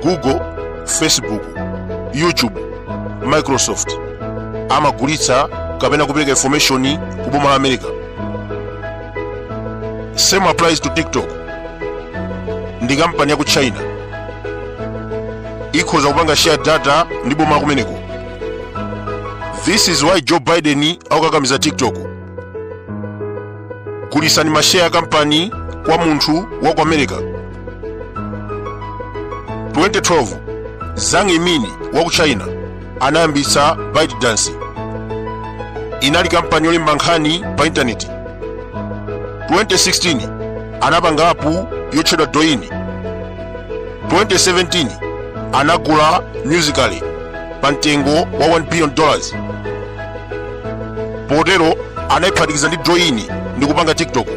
google facebook youtube microsoft amagulitsa kapena kupereka information ku boma la america same applies to tiktok ndi kampani ya ku china ikhoza kupanga share data ndi boma la kumeneko this is why joe biden akukakamiza tiktok gulisani masheya ya kampani kwa munthu wa ku america 2012 zhang yiming wa ku china anayambitsa ByteDance inali kampani yolemba nkhani pa intaneti 2016 anapanga apu yotchedwa douyin 2017 anagula musically pa mtengo wa 1 billion dollars potero anayiphatikiza ndi douyin ndi kupanga tiktok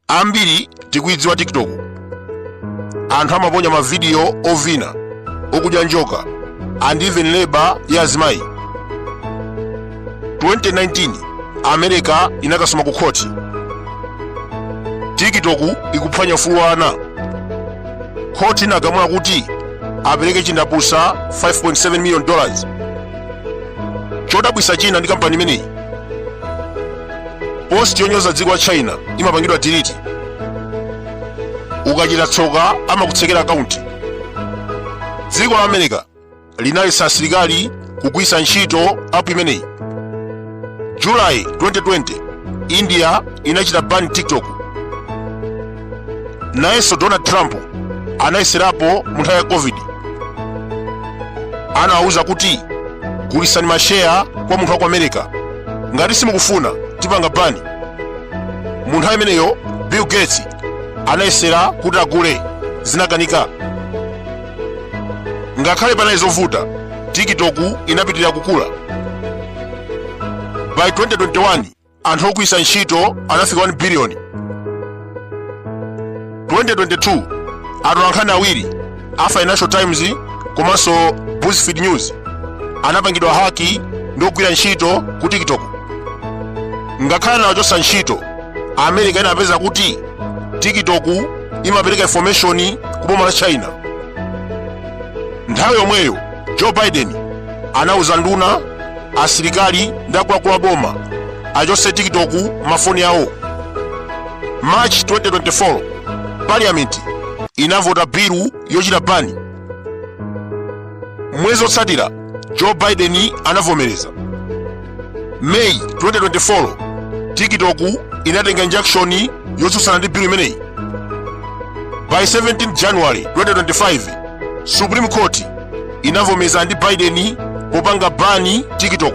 ambiri tikuyidziwa tiktok anthu amaponya mavidiyo ovina okudya njoka and even labor ya azimayi 2019 america inakasoma ku khoti tiktok ikuphwanya ufulu wa ana khoti inagamula kuti apereke chindapusa 5.7 million dollars chodabwisa china ndi kampani imeneyi post yonyoza dziko la china imapangidwa delete ukachita tsoka amakutsekera akaunti dziko la america linaletsa asilikali kugwisa ntchito app imeneyi july 2020 india inachita ban tiktok nayenso donald trump anayeserapo mu nthawi ya covid anawawuza kuti gulisani masheya kwa munthu wa ku america ngati simukufuna tipanga bani mu nthawi imeneyo bill gates anayesera kuti agule zinakanika ngakhale panali zovuta tiktok inapitirira kukula by 2021 anthu ogwiritsa ntchito anafika 1 billion 2022 atolankhani awiri a financial times komanso buzzfeed news anapangidwa haki ndi ogwira ntchito ku tiktok ngakhale anawachotsa ntchito america inapeza kuti tiktok imapereka information ku boma la china nthawi yomweyo joe biden anauza nduna asilikali ndi akuluakulu a boma achotse tiktok m'mafoni awo march 2024 parliament inavota bilu yochita bani mwezi otsatira joe biden anavomereza may 2024 tiktok inatenga injunction yotsutsana ndi bill imeneyi by 17 january 2025 supreme court inavomeza ndi biden popanga bani tiktok